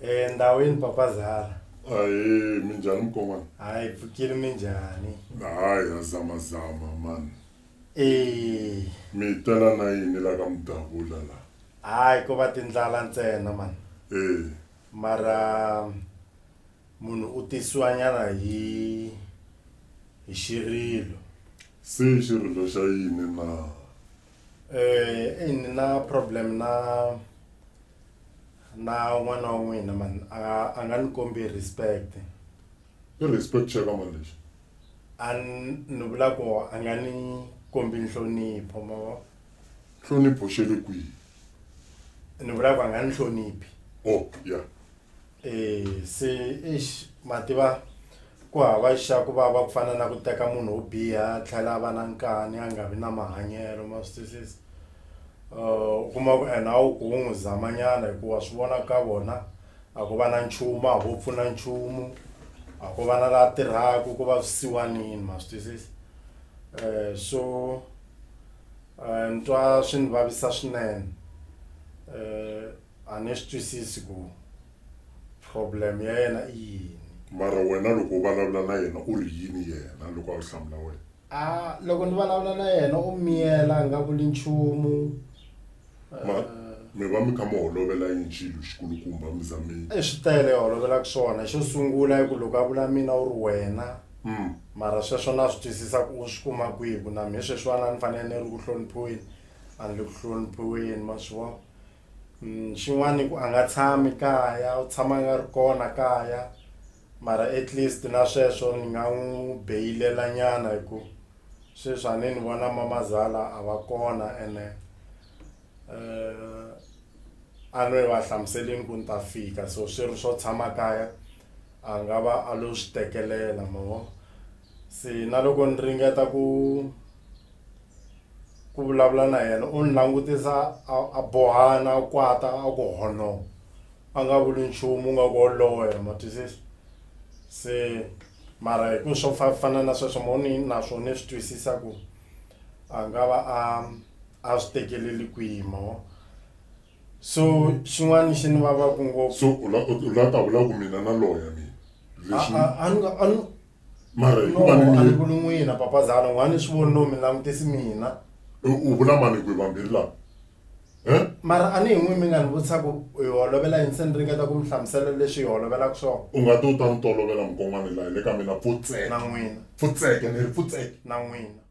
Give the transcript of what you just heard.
Eh, ndawini papa zara ahe minjhani mukomana hayi pfukile minjhani hayi hazamazama mani Eh, mi tela na yini la ka mudavula la hayi ko va tindlala ntsena mani e mara munhu u tisiwanyana hi hi xirilo se xirilo xa yini na um ni na problem na na n'wana wa n'wina man a nga a nga ni kombi respect i respect xa ka mali lexi a n- ni vula ku a nga ni kombi nhlonipho ma vo nhlonipho xe le kwihi ni vula ku a nga ni hloniphi o ya Eh, se eish ma tiva ku hava xa ku vava ku fana na ku teka munhu wo biha a tlhela a va na nkani a nga vi na mahanyelo ma swi twisisa um u kuma ku ene a wu ku wo n'wi zamanyana hikuva swi vona ka vona a ko va na nchumu a ho pfuna nchumu a ko va na laha tirhaka ko va swisiwanini ma swi twisisa um so um ni twa swi ni vavisa swinene um A ni swi twisisi ku problem ya yena i yini. Mara wena loko u valavula na yena u ri yini yena loko a ku hlamula wena? A loko ni valavula na yena u miyela a nga vuli nchumu. Ma, mi va mi kha mi holovela yini xilo xikulukumba mi za mi. I swi tele i holovelaka swona. Xo sungula i ku loko a vula mina u ri wena. Mara sweswo na swi twisisa ku u swi kuma kwihi ku na mhe sweswiwani a ni fanele ni ri ku hloniphiweni a ni le ku hloniphiweni ma swi vona. Mm, xin'wana ku a nga tshami kaya u tshama a nga ri kona kaya mara at least na sweswo ni nga n'wi beyilela nyana hi ku sweswi a ni ni vona mamazala a va kona ene um a no yi va hlamuselini ku ni ta fika so swi ri swo tshama kaya a nga va a lo swi tekelela mavo se na loko ni ringeta ku ku vulavula na yena u ni langutisa a a bohana a kwata a ku hono a nga vuli nchumu u nga ku woloye ma twisisa se mara hi ku swo fa- fana na sweswo mo ni naswo ni swi twisisa ku a nga va a a swi tekeleli kwihi mo so xin'wana xi ni vavaku ngopfu so u la- u la ta vula ku mina na loya mina leswi a- a- a ni nga- a ni- mara hi ku va ni miri ku n'wina papazana u nga ni swi voni no mi langutisi mina u vula mani ku hi vambirhi laha mara a ni hi n'wi mi nga ni vutisa ku hi holovela yini se ni ringeta ku mi hlamusela leswi hi holovelaka swona u nga ti u ta ni tolovela mukon'wana laha hi le ka mina pfutseke na n'wina pfutseke ni ri pfutseke na n'wina